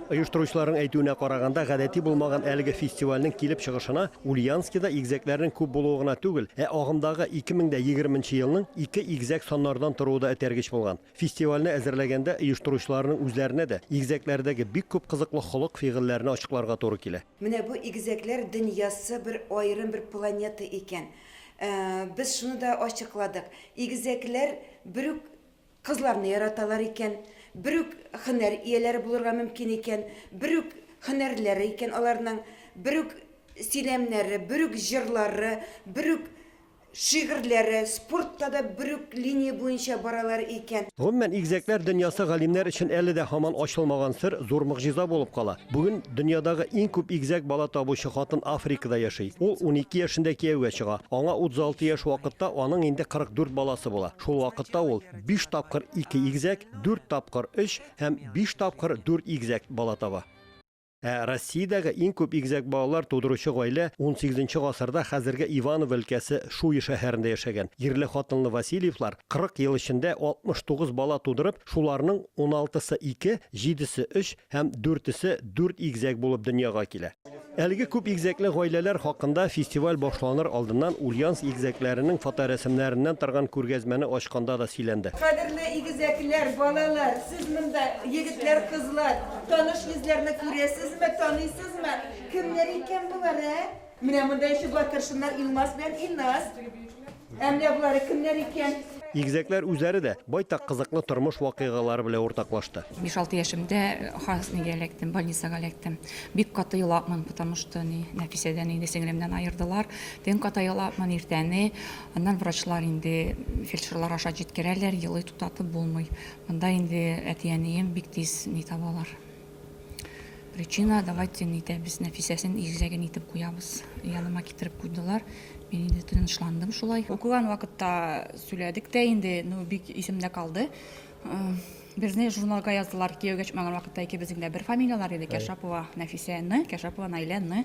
Оештыручыларның әйтүенә караганда, гадәти булмаган әлеге фестивальнең килеп чыгышына Ульяновскида игезәкләрнең күп булуы гына түгел, ә агымдагы 2020 нче елның ике игезәк саннардан торуы да этәргеч булган. Фестивальне әзерләгәндә оештыручыларның үзләренә дә игезәкләрдәге бик күп кызыклы холык-фигыльләрне ачыкларга туры килә. Менә бу игезәкләр дөньясы бер аерым бер планета икән. Без шуны да ачыкладык, игезәкләр бер үк Кызларны яраталар икән, бер үк хөнәр ияләре булырга мөмкин икән, бер үк хөнәрләре икән аларның, бер үк сөйләмнәре, бер үк җырлары, бер үк шигырьләре, спортта да бер үк линия буенча баралар икән. Гомумән, игезәкләр дөньясы галимнәр өчен әле дә һаман ачылмаган сер, зур могҗиза булып кала. Бүген дөньядагы иң күп игезәк бала табучы хатын Африкада яши. Ул унике яшендә кияүгә чыга. Аңа 36 яшь вакытта аның инде 44 баласы була. Шул вакытта ул биш тапкыр ике игезәк, дүрт тапкыр өч һәм биш тапкыр дүрт игезәк бала таба. Ә Россиядәге иң күп игезәк балалар тудыручы гаилә унсигезенче гасырда хәзерге Иваново өлкәсе Шуй шәһәрендә яшәгән ирле-хатынлы Васильевлар 40 ел эчендә 69 бала тудырып, шуларның уналтысы ике, җидесе өч, Һәм дүртесе дүрт игезәк булып дөньяга килә. Әлеге күп игезәкле гаиләләр хакында фестиваль башланыр алдыннан Ульяновск игезәкләренең фоторәсемнәреннән торган күргәзмәне ачканда да сөйләнде. Кадерле игезәкләр, балалар, сез монда, егетләр, кызлар, таныш йөзләрне күрәсезме, таныйсызмы? Кемнәр икән болар, ә? Менә монда еще бар кершеннар Илмас белән Илназ. Ә менә болары кемнәр икән? Игезәкләр үзләре дә байтак кызыклы тормыш вакыйгалары белән уртаклашты. 5-6 яшемдә Хаснигә эләктем, больницага эләктем. Бик каты елапмын, потому что ни, Нәфисәдән инде сеңлемнән аердылар. Төн ката елапмын, иртәне. Аннан врачлар инде фельдшерлар аша җиткерәләр, елый туктатып булмый. Монда инде әти-әнием бик тиз ни табалар. Причина, давайте не итәбез, Нәфисәсен иррәген итеп куябыз. Яныма китереп куйдылар. Мин инде тынычландым шулай. Укыган вакытта сөйләдек тә инде, ну бик исемдә калды. Э, Безне журналга яздылар кияүгә чыкмаган вакытта икебезнең дә бер фамилияләр иде, Кәшапова Нәфисәне, Кәшапова Наиләне.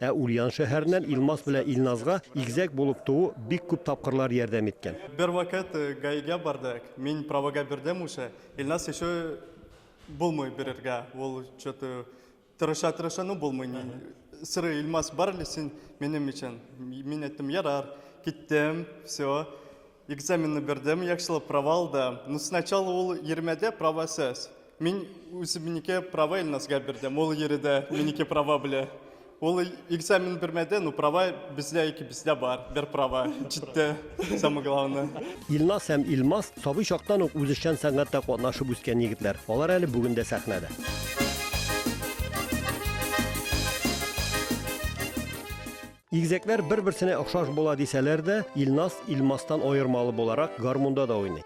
Ә Ульян шәһәреннән Илмас белән Илназга игезәк булып туу бик күп тапкырлар ярдәм иткән. Бервакыт гаигә бардык, мин правога бирдем уже, Илназ ещё булмый бирергә, ул чё-то тырыша-тырыша, ну булмый, ни сорый, Илмас, бар әле син минем өчен, мин әйттем, ярар, киттем, всё, Экзаменны бирдем, яхшылап права алды. Ну, сначала ул йөрмәдә права сез. Мин үземнеке права Илназга бирдем. Ул йөрде, минеке права белә. Ул экзамен бирмәде, ну права бездә икебездә бар. Бер права җитте. Самое главное. Илназ һәм Илмаз сабый чактан ук үзешчән сәнгатьтә катнашып үскән егетләр. Алар әле бүген дә сәхнәдә. Игезәкләр бер-берсенә охшаш була дисәләр дә, Илназ Илмастан аермалы буларак гармунда да уйный.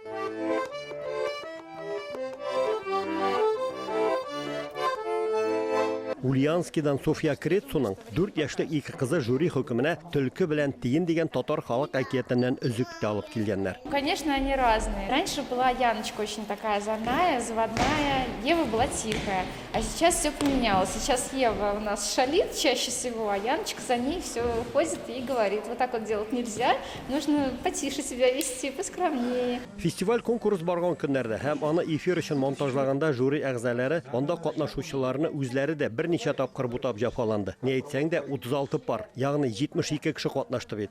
Ульянскидан Софья Крецуның 4 яшьлек ике кызы жюри хөкеменә Төлке белән тиен дигән татар халык әкиятеннән өзек тә алып килгәннәр. Конечно, они разные. Раньше была Яночка очень такая озорная, заводная, Ева была тихая. А сейчас все поменялось. Сейчас Ева у нас шалит чаще всего, а Яночка за ней все ходит и говорит, вот так вот делать нельзя, нужно потише себя вести, поскромнее. Фестиваль конкурс барган көннәрдә һәм аны эфир өчен монтажлаганда жюри әгъзалары анда катнашучыларны үзләре дә берничә тапкыр бутап җафаланды. Ни әйтсәң дә 36 пар, ягъни 72 кеше катнашты бит.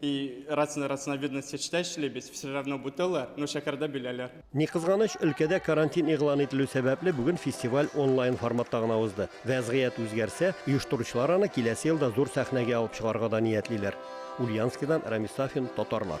И рацина рацина видно сечтә шлебес все равно бутылар но шәкәрдә бөләләр. Ни кызганыч, өлкәдә карантин игълан ителү сәбәпле бүген фестиваль онлайн форматта гына узды. Вәзгыять үзгәрсә, оештыручылар аны киләсе елда зур сәхнәгә алып чыгарга да ниятлиләр. Ульяновскидан Рамис Сафин, Татарлар.